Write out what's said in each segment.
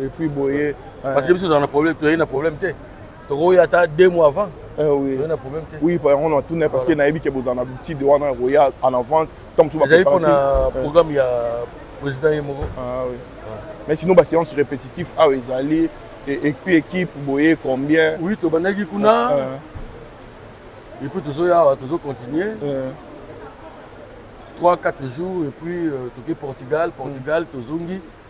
et puis boye parce que biso tozala na problème toyei na problème te tokoya ata deux mois avant eh oui. toyei na problème te oui par exemple natuna parce que nayebi ke bozala na butide wana ya koya en avance tant mosusu ezali mpona eh. programme ya président ye moko ah ah. mais sinon baséance répétitif awa ezali et puis équipe boye combien oui tobandaki kuna ah, ah. et puis tozoya awa tozo continuer 3 eh. 4 jours et puis euh, toke portugal portugal mm. tozongi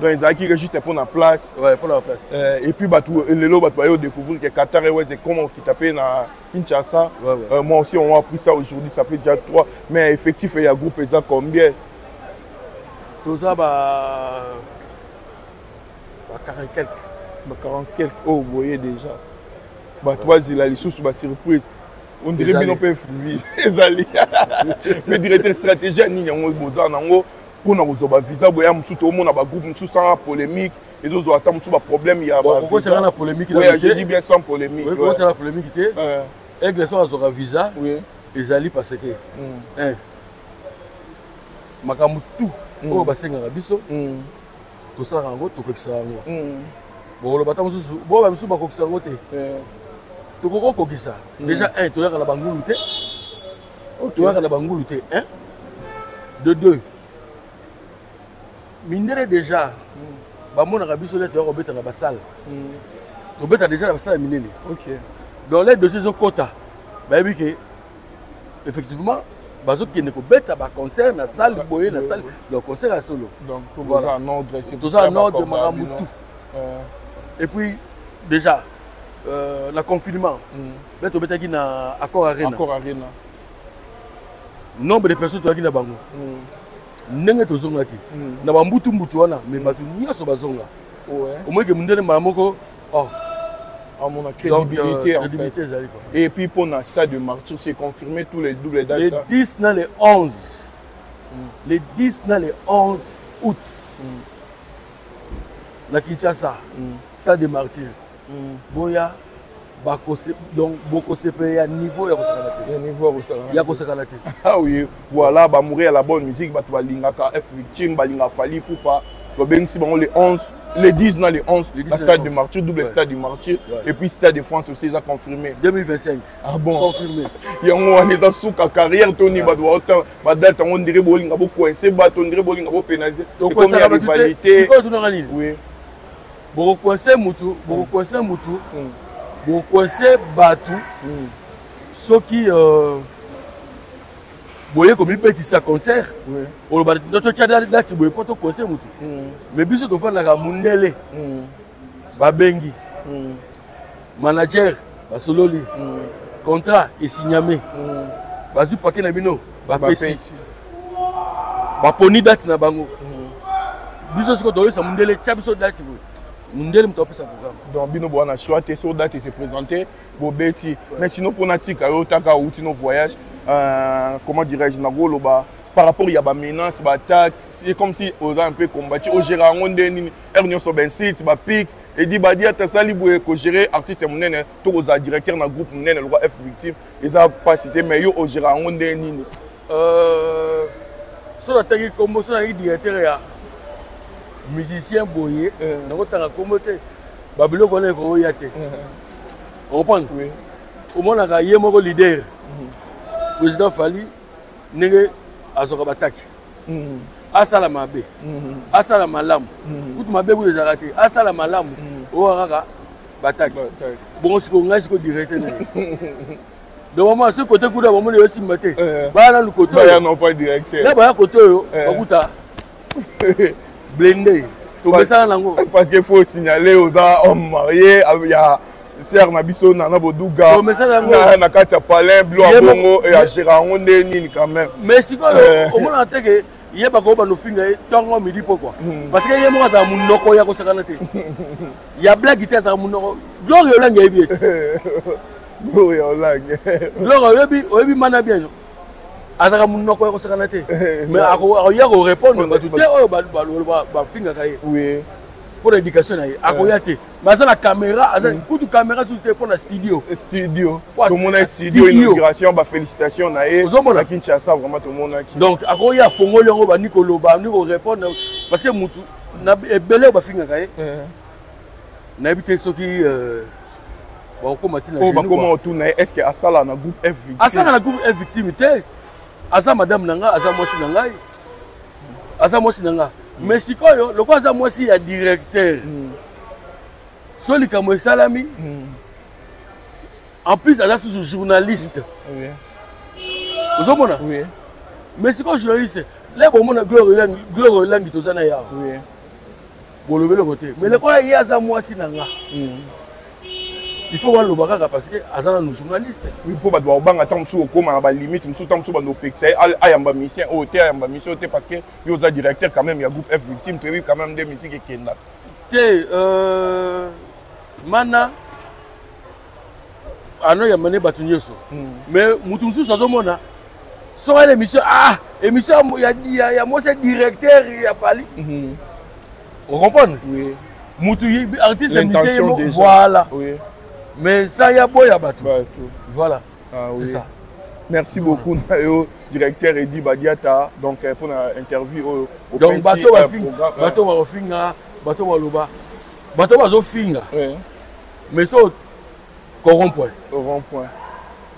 donc ezalaki ke juste mpo na place ouais, mpo na place euh, et puis bato euh, lelo bato baye odécouvrir ke qatar airways ekoma okita mpe na kinshasa ouais, ouais. Euh, moi aussi on appris ça aujourd'hui ça fait déjà trois mais effectif ya groupe eza combien toza ba ba 40 quelque ba 40 quelque oyo oh, boye déjà bato bazela lisusu basurprise ondire bino mpe ezali mais directeur stratégie ya nini yango boza nango pona kozwa ba visa boya mosusu toomona ba groupe mosusu sanga polémique ezozwa ata mosusu ba problème ya kokotaka na polémique je bien sans polémique kokotaka na polémique te aigle soki azwaka visa ezali parce que mm. makambo tout mm. oyo basengaka biso mm. tosalaka yango tokokisaka yango bokoloba ata mosusu boba misusu bakokisa yango te tokoki kokokisa déjà un toyaka na bangulu te otoyaka na bangulu te hein? de deux mindele déjà hmm. bamonaka biso nde toya kobeta na basale hmm. tobeta déjà na basale ya minene donc les dossier ezokota bayebi ke effectivement bazokende kobeta baconcert na salle boye na salle donc concert ya solo toza en ordre makambo tout euh. et puis déjà euh, na confinement hmm. Mais tu obetaki na Accor Arena. Accor Arena. Nombre de personnes toyaki na bango. Mm. Ndenge tozongaki mm. na ba mbutu mbutu wana mais mm. bato nyonso bazonga. Ouais. Omoyeke mundele mbala moko oh amona ah, crédibilité, Donc, euh, fait. et puis pour le stade de martyr c'est confirmé tous les doubles dates les 10 na les 11 mm. les 10 na les 11 août mm. na kinshasa mm. stade de martyr mm. boya bakose donc bokosepela ya niveau ya kosakana te ya niveau ya kosakana ya kosakana te ah oui voilà ba mourir la bonne musique bato balingaka f victime balinga fali pupa babengisi bango le 11 le 10 na le 11 na stade de martyr double ouais. stade de martyr ouais. et puis stade de france aussi eza confirmé 2025 ah bon confirmé yango wana eza suka carrière toni bato baota badate yango ndire bolinga bocoince bato ndire bolinga bopénalise ekomi ya rivalité oui boko coince mutu boko coince mutu mm. boko coince batu mm. soki euh, boye komibetisa concert oloba totya dati boye mpo tokonse motu me biso tofandaka mundele babengi manager basololi mm. contrat esigname mm. bazwi pake na bino bapesi baponi date na bango mm. biso siko toyesa mondele tya biso date boye mondele moto apesa programme donc bino boa na choix te so date ese présente bobeti mais sinon mpo natika yo otaka outi no voyage euh, comment dirais-je nakoloba par rapport ya bamenace baattaque c'est comme si oza un peu combati ogera yango nde nini heure nyonso bensite bapique Edi Badiata asali boye ko gérer artiste ya monene to kozala directeur na groupe monene lokwa F Victime eza mpasi te mais yo ogera yango ndenge nini euh, so natangi nkombo so nayaki directeur ya musicien boye eh. nakotanga nkombo te babiloko wana ekoya te eh. okomprendre omonaka ye moko leader mhm. président fali ndenge azwaka bataki mm. asala mabe mm. asala malamu mm. kutu mabe kutu ezalaka te asala malamu mm. oyo kaka bataki bongo sikoyo ngai sikoyo directe na ye donc mama soki kote kuna bamoni yo simba te eh. baya nanu kote na baya kote oyo eh. bakuta blende tomesana nango parce que faut signaler oza homme marié ya sere na biso nana boduga na kati ya palin blo ya bongo agera yango nde nini quand même mais sikoyo eh. omonaka te ke ye bakoki banofinga ye ntongo midi mpo kua hmm. parce que ye moko azala monoko ya kosakana te ya blagi te azala monoko gloria olangi ayebi ete gloria olangi gloria oyebi oyebi mana bien yo azalaka monoko ya kosakana te eh, mais akoya korépondre bato te oyo bafingaka ye mpo na éducation na ye akoya te baza na camera aza mm. kutu camera susu te mpo na studio eh, studio tomona studio inauguration bafélicitation na ye ozomona kinshasa vraiment tomonaki donc akoki afongoli yango bandi koloba bandi korépondre parce que motu ebele oyo bafingaka ye eh. nayebi te soki euh, bakokoma ntina oyo bakoma otuna ye est ce que asala na groupe f victime asala na groupe f victime te aza madame na ngai aza mwasi na ngai aza mwasi na nga mm. mais sikoyo lokola aza mwasi ya directeur mm. so likambo esalami mm. en plus aza susu journaliste oui. ozomona oui. mais sikoyo journaliste lebo omona gloire olangi toza na yawa oui. bolobi eloko te mais lokola ye aza mwasi na nga hmm. il faut baloba kaka parce que aza nanu journaliste oui mpo bato bakobanga ntango mosusu okoma na balimite mosusu ntango mosusu bando opekisa ye ayamba misien oyo te ayamba misien oyo te parce que yo oza directeur quand même ya groupe f victime toyebi quand même nde misiki ekendaka te euh, mana anoyamba nde bato nyonso hmm. mais moto mosusu azomona soki ana émission ah émission ya mwasi ya directeur ya fali hmm. ocomprendre moto artiste ya misio ye moko voilà mais sa ya boya bato voilà ah c'est ça merci beaucoup na yo directeur edi badiata donc euh, mpo na interview oyo oh, donc bato bafinga bato bakofinga bato baloba bato bazofinga mais so coron point coron point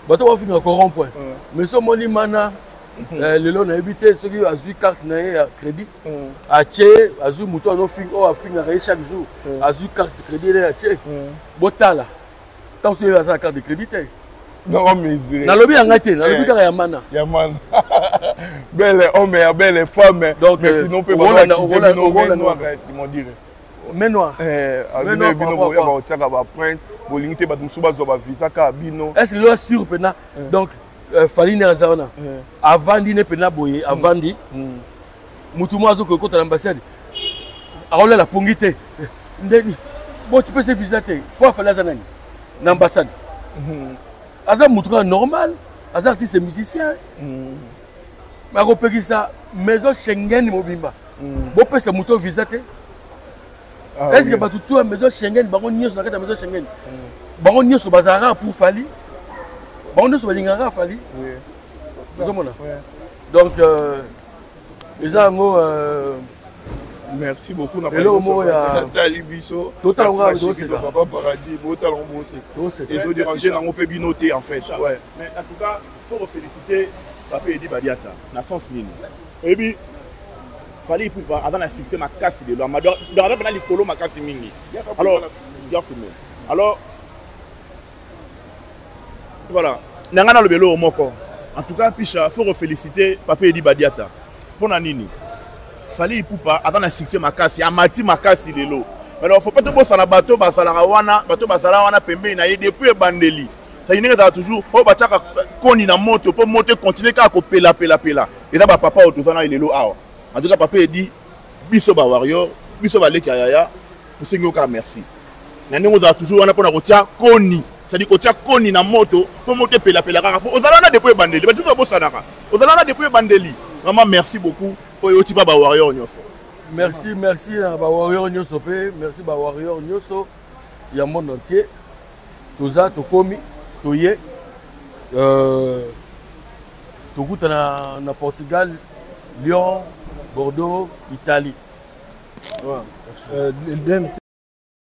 bato bafinga coron point mm. mais so omoni mana mm-hmm. eh, lelo nayebi te soki azwi carte na ye ya crédit mm. atie azwi moto oyo oh, afingaka ye chaque jour mm. azwi carte de crédit ele atie botala ntango soki aza na carte de crédit te nalobi ya ngai te nalobi eh. kaka ya mana ya mana belle homme ya belle femme donc euh, sinon mpe baokolanda okolanda mais noir eh, mais noir bino boya ba otiaka ba print bolingi te bato mosusu bazwa ba visa kaka bino est ce que loa sur mpena eh. donc euh, falini aza wana eh. avandi ne mpena boye hmm. avandi hmm. motu moko azokoki kota na ambassade akolela pongi te ndeni boti pese visa te mpo afali aza nani na ambassade hmm. aza motu kaka normal aza artiste musicien bakopekisa maison schengen mobimba mm. bopesa moto visa te ah, est ce que bato to ya maison schengen bango nyonso na kati ya maison schengen mm. bango nyonso bazalaka pour fali bango nyonso balingaka fali ozomona donc euh, eza yango euh, merci beaucoup na eloko moko yatali biso totalangapapa paradis botalango boseka ezoderange nango mpe bino te en fait ouais. faut ko feliciter papa Edi Badiata na sens nini oyebi Fally Ipupa aza na succès makasi lelo ama donc aza mpena likolo makasi mingi alors ya filme alors voilà na ngai naloba eloko moko en tout cas pisha faut ko feliciter papa Edi Badiata mpo na nini Fally Ipupa aza na succès makasi amati makasi lelo alors faut pas tobosana bato bazalaka wana bato bazala wana pembeni na ye depuis ebandeli saki ndenge ezala toujours oyo batiaka koni na moto mpo moto ekontinue kaka kopelapelapela eza bapapa oyo toza na elelo awa antuka papa edi biso bawarior biso baleki ya yaya tosengi yo kaka merci na ndenge ozala toujours wana mpo na kotia koni sadi kotia koni na moto mpo moto epelapela kaka mpo ozala wana depo ebandeli bato babosanaka ozala wana depo ebandeli vraiment merci beaucoup oyo oti ba bawarrior nyonso merci merci na bawarrior nyonso mpe merci bawarrior nyonso ya monde entier toza tokomi toye euh, tokutana na portugal lyon bordeaux italie ouais. euh,